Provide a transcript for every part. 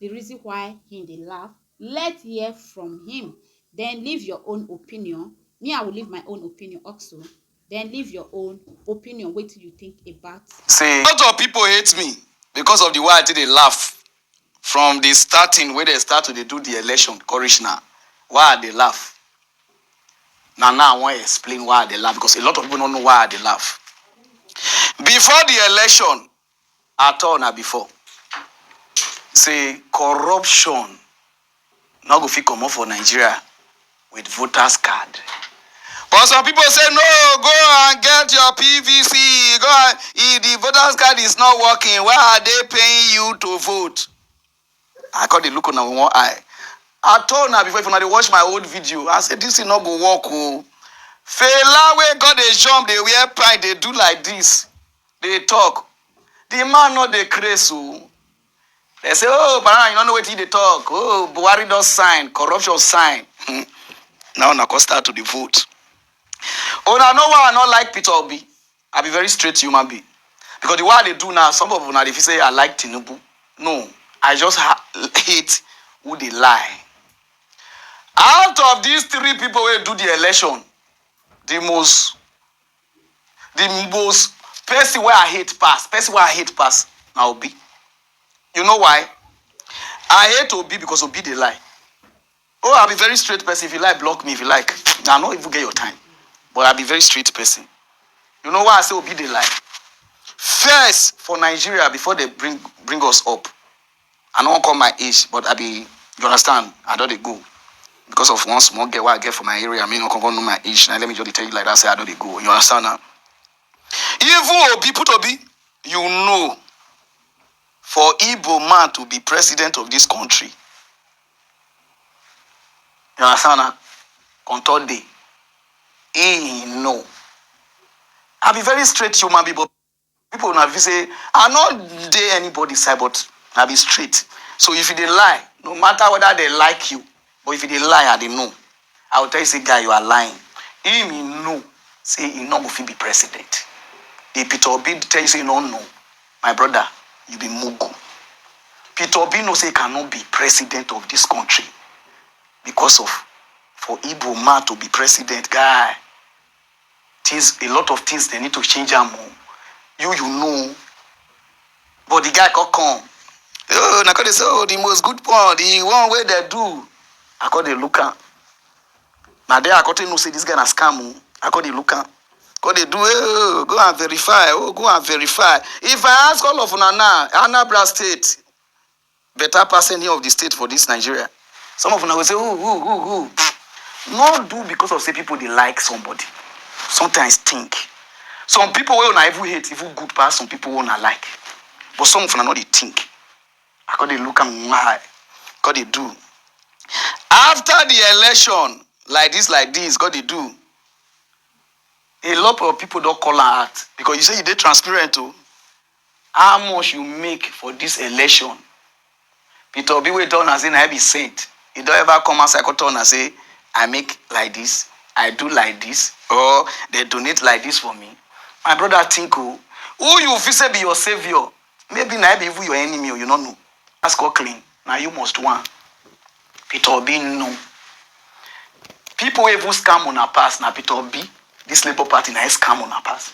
the reason why he dey laugh let hear from him then leave your own opinion me i will leave my own opinion also then leave your own opinion wetin you think about Say a lot of people hate me because of the way i take dey laugh from the starting wey dem start to dey do the election come reach now why i dey laugh na now i wan explain why i dey laugh because a lot of people no know why i dey laugh before the election at all na before say corruption no go fit comot for Nigeria with voters card but some people say no go and get your PVC go and if the voters card is not working why are they paying you to vote I come dey look una with one eye. I told una before if una dey watch my old video, I say this thing no go work o. Fela wey come dey jump, dey wear pride, dey do like this, dey talk. The man no dey craze o. They say, oh, Barana, you no know wetin you dey talk. Oh, Buhari don sign, corruption sign. Hmm. Now una come start to dey vote. Una know why I no like Peter Obi? I be very straight human being because the way I dey do now, some of una dey feel say I like Tinubu. No, I just ha- hate who dey lie. Out of these three people wey do the election, the most the most person wey I hate pass, person wey I hate pass na Obi. You know why? I hate Obi because Obi dey lie. Oh, I be very straight person. If you like, block me. If you like, I no even get your time. But I be very straight person. You know why I say Obi dey lie? First for Nigeria before they bring bring us up. I no wan call my age, but I be you understand? I don dey go because of one small girl wey I get for my area. Me no come come know my age. Now let me just dey tell you like that. Say I don dey go. You understand now? Even Obi put Obi, you know, for Igbo man to be president of this country, You understand na? On third day, he know. I be very straight human being, but people na be say I no dey anybody side, but I be straight. So if you dey lie, no matter whether they like you, but if you dey lie, I dey know. I will tell you say guy you are lying. Him he know say he no go fit be president. If Peter Obi tell you say you no know, my brother, you be mugu. Peter Obi know say he cannot be president of this country because of for Igbo man to be president, guy. things a lot of things they need to change am o you you know but the guy come come oh na come dey say oh the most good one the one wey dey do i come dey look am na there i come take know say this guy na scam o i come dey look am come dey do oh go and verify oh go and verify if i ask all of una now anambra state better pass any of the state for this Nigeria. Some of una go say, ooh, ooh, ooh, ooh. No do because of say people dey like somebody. Sometimes think. Some people wey una even hate even good pass some people wey una like. But some of una no dey think. I come dey look am in my eye. God dey do. After the election, like this, like this, God dey do. A lot of people don call am out because you say you dey transparent o. How much you make for this election? Peter Obi wey tell una say na him be saint, he don ever come outside come tell una say I make like this, I do like this or they donate like this for me? My brother think o, who you feel say be your saviour maybe na him be even your enemy o, you no know. Ask or clean, na you must wan. Peter Obi no. People wey even scam una pass na Peter Obi, this Labour Party na e scam una pass.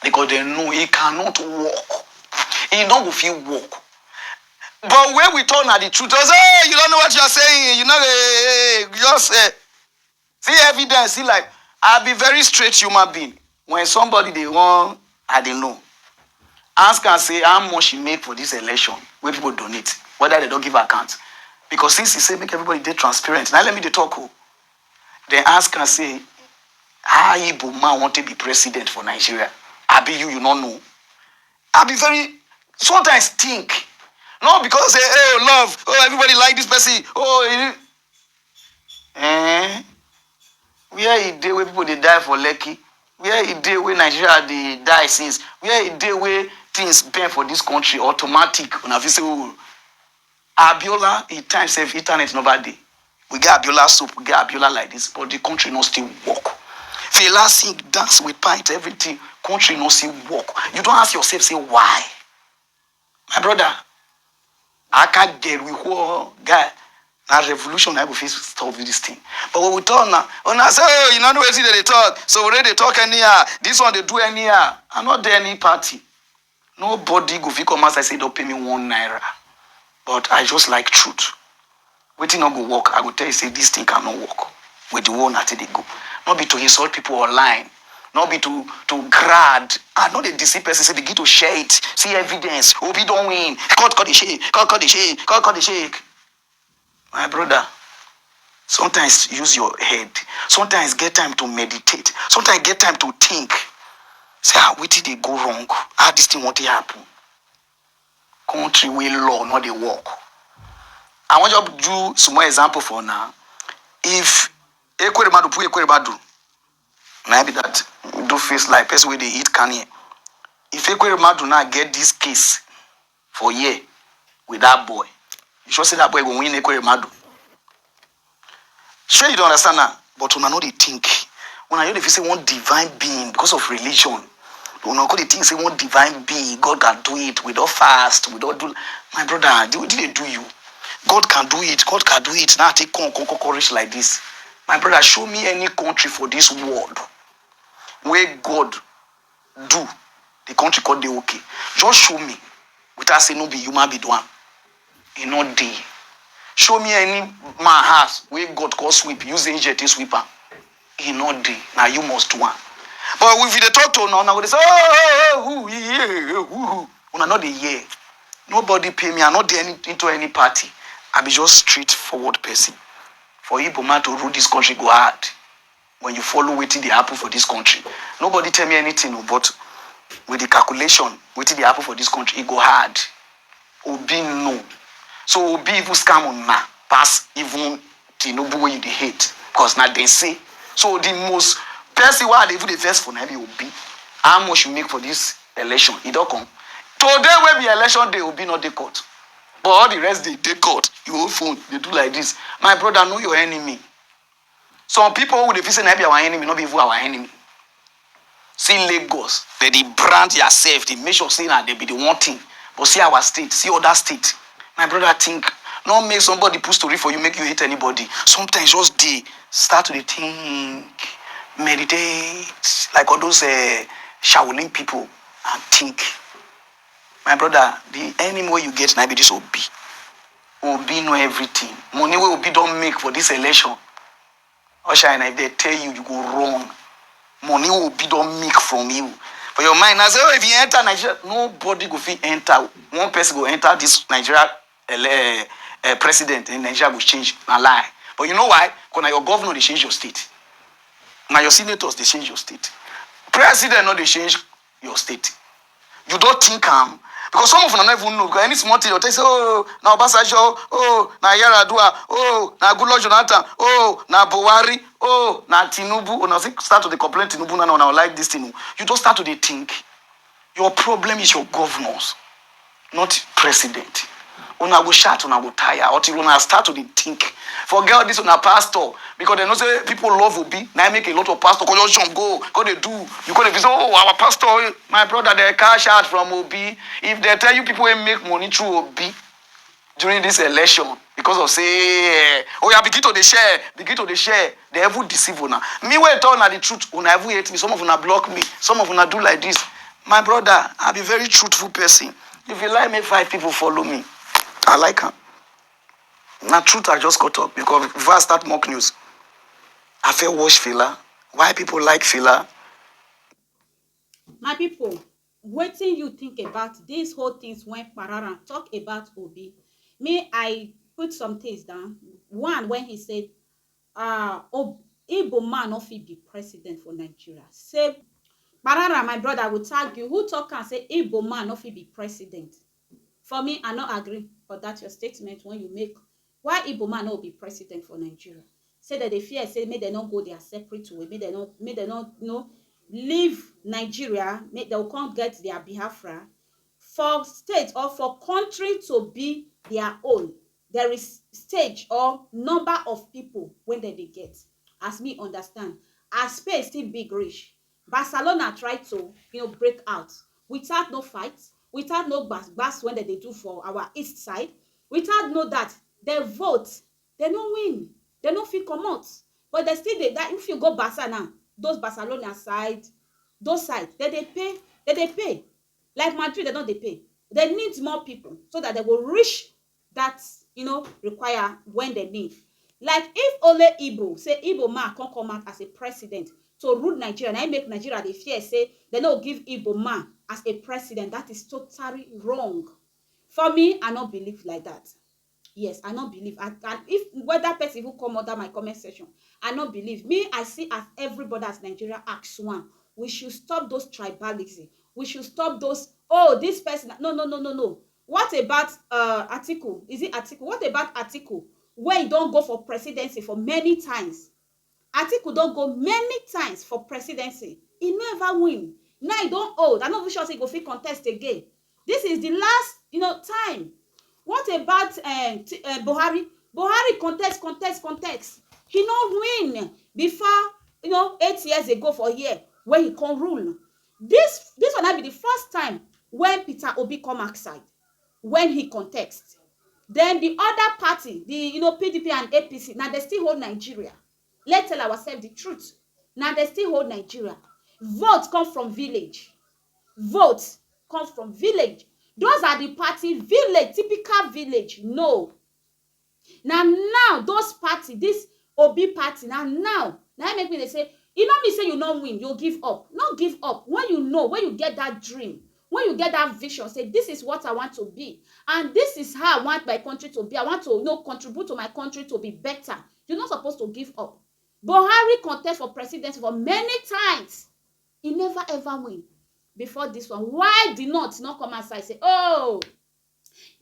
Because they know he cannot work. He no go fit work. But when we talk na the truth, they say, hey, you don't know what you are saying. You know, hey, hey, hey, just, eh. See evidence, see like I be very straight human being. When somebody dey run, I dey know. Ask am say how much he make for this election wey people donate, whether they don give account. Because since he say make everybody dey transparent, now let me dey talk o. Then ask am say how Igbo man wan take be president for Nigeria? Abi you you no know? I be very sometimes think not because say oh love oh everybody like this person oh you Eh, where e dey wey people dey die for Lekki? Where e dey wey Nigeria dey die since? Where e dey wey things bend for this country automatic? Una fit say oh, Abiola e time sef internet never dey. We get Abiola soap, we get Abiola like this but the country no still work. Fela sing, dance with pint everything, country no still work. You don ask yourself say why? my brother aka girl we whore guy na revolution na go fit stop this thing but when we talk na una say oh you no know wetin dem dey talk so we dey talk anyhow this one dey do anyhow i no dey any party nobody go fit come outside say you don pay me one naira but i just like truth Wetin no go work, I go tell you say this thing cannot work with the way una take dey go. No be to insult people online, no be to to grad, ah no dey deceive person say begin to share it, see evidence, Obi don win, court come dey shake, court come dey shake, court come dey shake. My brother, sometimes use your head, sometimes get time to meditate, sometimes get time to think, say ah wetin dey go wrong, how this thing wan take happen. country wey law no dey work. I wan just do small example for una. If Ekweremadu put Ekweremadu, na im be that, do face like person wey dey eat kani. If Ekweremadu now get this case for here with that boy, you sure say that boy go win Ekweremadu? Shey you dey understand now, but una no dey think, una just dey feel sey one divine being because of religion, una come dey think sey one divine being God can do it, we don fast, we don do, my brother wetin dey do you, God can do it, God can do it na take come come come come reach like dis, my brother show me any country for dis world wey God. do the country come dey okay just show me without say no be human being do am e no dey show me any man house wey God come sweep use angel take sweep am e no dey na you must do am but if you dey talk to una una go dey say oh oh oh who he he oh, who who una no dey hear nobody pay me i no dey any, into any party i be just straightforward person for igbo man to rule this country go hard when you follow wetin dey happen for dis country, nobody tell me anything o but with the calculation wetin dey happen for dis country e go hard, Obi know, so Obi even scam una pass even Tinubu wey you dey hate cos na dem say, so the most person wey I dey even dey vex for na im be Obi, how much you make for dis election e don come? Today wey be election day Obi no dey court but all the rest dey dey court, your own phone dey do like dis, my brother know your enemy. Some people who dey feel say na be our enemy no be even our enemy. See Lagos, dem dey brand theirself, dey make sure say na dem be the one thing. But see our state, see other state. My brother think, no make somebody put story for you make you hate anybody. Sometimes just dey start to dey think, meditate like all those um Shaolin people and think. My brother, the enemy wey you get na be this Obi. Obi know everything. Money wey Obi don make for this election. Oshine, if they tell you, you go run. Money wey Obi don make from you. For your mind, now say, oh, if you enter Nigeria, nobody go fit enter. One person go enter this Nigeria ele- eh, president, and Nigeria go change. Na lie. But you know why? Because now your governor they change your state. Now your senators they change your state. President no dey change your state you don think am because some of una no even know because any small thing you tell say oh na obasanjo oh na yaradua oh na goodluck jonathan oh na buhari oh na tinubu una fit start to dey complain tinubu na na una like this thing o you just start to dey think your problem is your governors not president una go shout una go tire until una start to dey think forget all this una pastor because dem know say people love obi na im make a lot of pastor go just jump go go dey do you go dey feel say oh our pastor eh, my brother dey cash out from obi if dem tell you people wey make money through obi during this election because of say eh, oh yeah, begin to the share begin to the share the evil deceive una me wey tell una the truth una evil hate me some of una block me some of una do like this my brother i be very truthful person if you like make five people follow me i like am na truth i just cut up because before i start mock news i fit watch fela why people like fela my people Wetin you think about these whole things when Pararan talk about Obi? Me I put some things down. One when he said uh, Ob Igbo man no fit be president for Nigeria. Say Pararan my brother I will tag you who talk am say Igbo man no fit be president. For me I no agree for that your statement when you make Why Igbo man no be president for Nigeria? Say dem dey fear say make dem no go their separate way, make dem no make dem no you know leave Nigeria, make dem go come get their Biafra. For state or for country to be their own, there is stage or number of people wey dem dey get. As me understand, as space still big reach, Barcelona try to you know break out without no fight, without no gbas gbas wen dem dey do for our east side, without no dat, dem vote, dem no win, dem no fit comot but dem still dey dat if you go Barca now those Barcelona side, those side dem dey pay, dem dey pay like Madrid dem don dey pay, dem need more pipu so dat dem go reach that you know require when dem need like if only igbo say igbo man come come out as a president to rule nigeria na im make nigeria dey fear say dem no give igbo man as a president that is totally wrong for me i no believe like that yes i no believe and, and if whether person even come under my comment section i no believe me i see as everybody as nigeria ask one we should stop those tribalism we should stop those oh this person no no no no no What about uhh Atiku, is it Atiku, what about Atiku wey don go for presidency for many times, Atiku don go many times for presidency he no ever win, now he don old I no even sure say he go fit contest again, this is the last you know time, what about ehh ti ehh Buhari, Buhari contest contest contest he no win before you know eight years ago for here wey he come rule, Dis dis one na be di first time wen Peter Obi come ask side wen he contest, den di oda party di you know pdp and APC na dem still hold Nigeria, let tell ourselves di truth na dem still hold Nigeria, vote come from village, vote come from village, those are di party village typical village no. Na now those party this Obi party na now na him make me dey say e no mean say you no win you give up no give up when you know when you get that dream when you get that vision say this is what I want to be and this is how I want my country to be I want to you know contribute to my country to be better you no suppose to give up Buhari contest for presidency for many times he never ever win before this one why the north no come outside say oh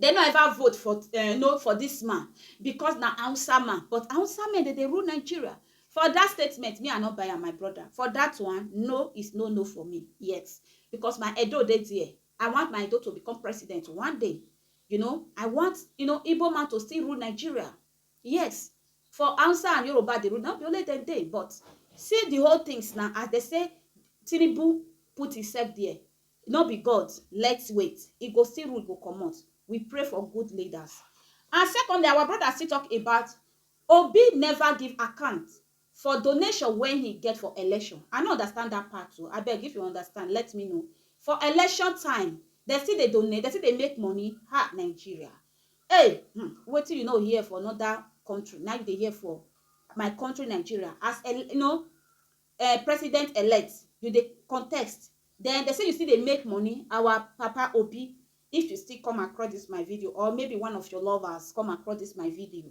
Dem no ever vote for um no for dis man because na Hausa man but Hausa men dem dey rule Nigeria. For dat statement me I no buy am my brother for dat one no is no no for me yet because my Edo dey there I want my Edo to become president one day you know I want you know Igbo man to still rule Nigeria yes for Hausa and Yoruba dey rule no be only dem dey but see the whole things na as dem say Tinubu put himself there No be God, let's wait, e go still rule go comot, we pray for good leaders. And secondly, our brother still talk about Obi never give account for donation wey he get for election. I no understand that part o, abeg if you understand let me know. For election time, dem still dey donate, dem still dey make money, ha Nigeria. Hey, hmm, wetin you no hear for another country na you dey hear for my country Nigeria as, you know, Eh president elect you dey contest then dey say you still dey make money our papa obi if you still come across this my video or maybe one of your lovers come across this my video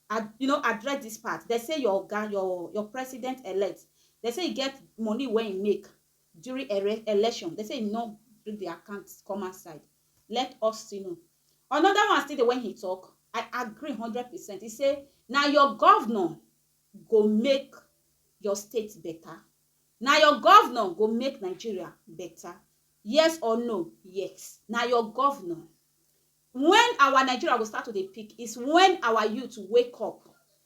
ad you know address this part dey say your oga your your president elect dey say e get money wey e make during ere election dey say e no bring the account come outside let us still know another one still dey when he talk i agree hundred percent he say na your governor go make your state beta Na your governor go make Nigeria beta Yes or no? Yes Na your governor When our Nigeria go start to dey pick is when our youth wake up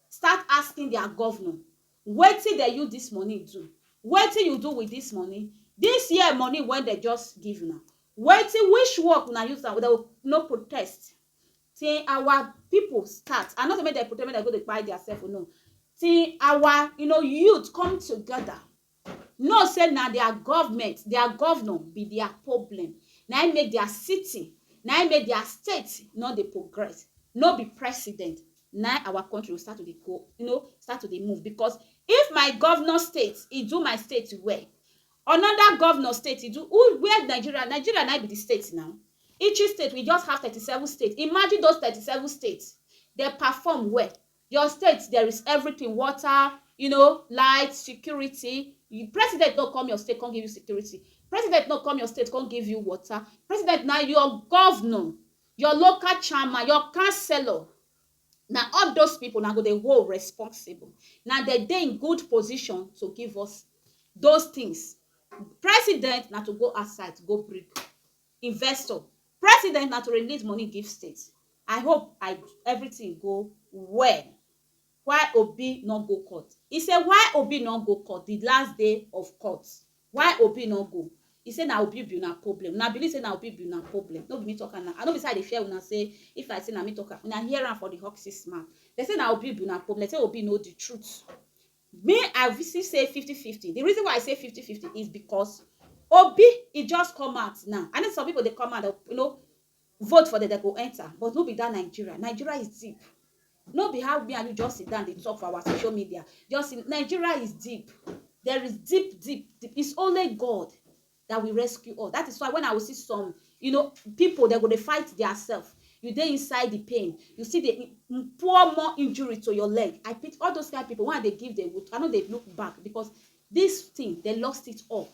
start asking their governor wetin dem use this money do? Wetin you do with this money? This year money wey dem just give una wetin which work una use am? Dem go no protest Tin awa pipu start, I no sey make dem pretend make dem go dey kpai dia sef o, no. Tin awa you know youth come togeda, know sey na dia government, dia governor be dia problem, na im make dia city, na im make dia state no dey progress, no be president, na im awa country go start to dey go, you know, start to dey move because if my governor state e do my state well, Another governor state e do who where Nigeria Nigeria na be the state now each state we just have thirty seven state imagine those thirty seven state dem perform well your state there is everything water you know light security you president no come your state come give you security president no come your state come give you water president na your governor your local chairman your councillor Na all those people una go dey hold responsible. Na dem dey in good position to give us those things. President na to go outside go bring investor. President na to release money give state. I hope I everything go well. Why Obi no go court? He say why Obi no go court the last day of court Why Obi no go? He say na Obi be una problem. Una believe say na Obi be una problem. No be me talk am na. I no be say I dey fear una say if I say na me talk am, una hear am for the Huxes mouth. Dem say na Obi be una problem. Dem say Obi know the truth. Me, I still say fifty fifty. The reason why I say fifty fifty is because Obi, he just come out now. I know some people dey come out, you know, Vote for dem dem go enter but no be that Nigeria, Nigeria is deep no be how me and you just sit down dey talk for our social media just see Nigeria is deep there is deep deep deep it's only God that will rescue us that is why when I will see some you know people they go dey fight their self you dey inside the pain you see the pour more injury to your leg I pity all those kind people when I dey give them wood I no dey look back because this thing they lost it all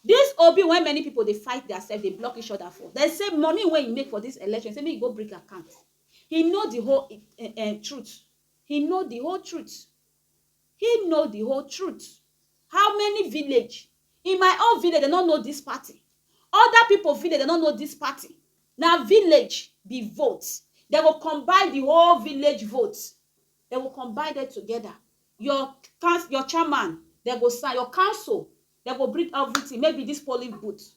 Dis Obi wey many pipo dey fight dia sef dey block each oda for dem say money wey he make for dis election say make he go bring account he know di whole um truth he know di whole truth he know di whole truth how many village in my own village dem no know dis party oda pipo village dem no know dis party na village be vote dem go combine di whole village vote dem go combine dem together Your council, your chairman, dem go sign. Your council, dem go bring everything. Maybe this polling booth.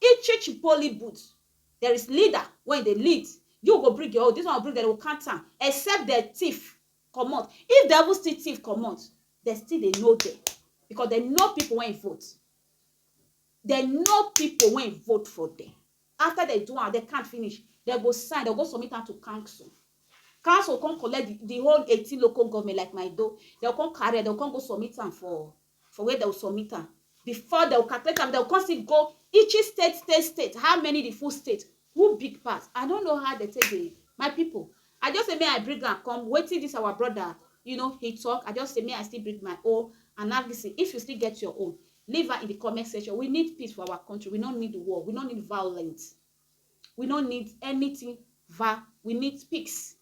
Each each polling booth, there is leader wey e dey lead. You go bring your own, this one go bring, dem go count am. Except dem thief comot. If dem even still thief comot, dem still dey know dem because dem know people wey e vote. Dem know pipo wey vote for dem. Afta dem do am, dem count finish, dem go sign, dem go go submit am to council. Council go come collect di di whole eighteen local government like Maido, dem go come carry am, dem go come go submit am for for where dem go submit am. Before dem go calculate am, dem go come still go each state state state, how many di full state Who big pass? I no know how dem take dey my people I just say make I bring am come wetin this our brother you know he talk I just say make I still bring my own analysis if you still get your own leave am in the comment section we need peace for our country we no need war we no need violence we no need anything va we need peace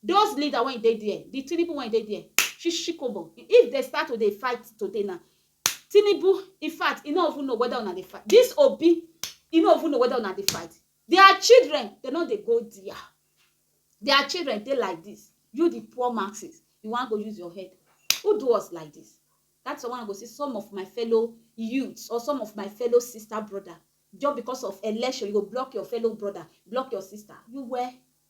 Those leader wey dey there, the Tinubu wey dey there, shishikobo. If dey start to dey fight today now, Tinubu, in fact, he no even know whether una dey fight. This Obi, he no even know whether una dey fight. Their children, they no dey go there. Their children dey like this. You, the poor masses, you wan go use your head. Who do us like this? That's why I go see some of my fellow youths or some of my fellow sister brother just because of election you go block your fellow brother block your sister you were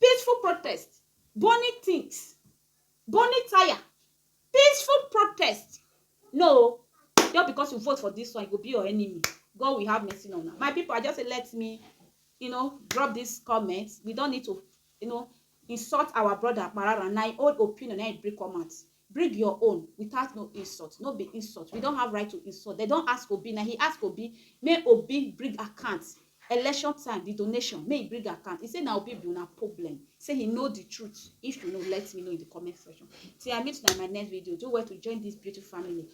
Peaceful protest, burning things, burning tyre, peaceful protest. No o, just because you vote for this one, you go be your enemy. God will have mercy on una. My people, I just say let me, you know, drop this comment. We don't need to, you know, insult our brother Parara. Na im own opinion na im bring come out. Bring your own without no insult, no be insult, we don't have right to insult, they don't ask Obi, na he ask Obi, may Obi bring account, election time, the donation, may he bring account, he say na Obi be una problem, say he know the truth, if you know, let me know in the comment section. Till I meet you in my next video, do well to join this beautiful family,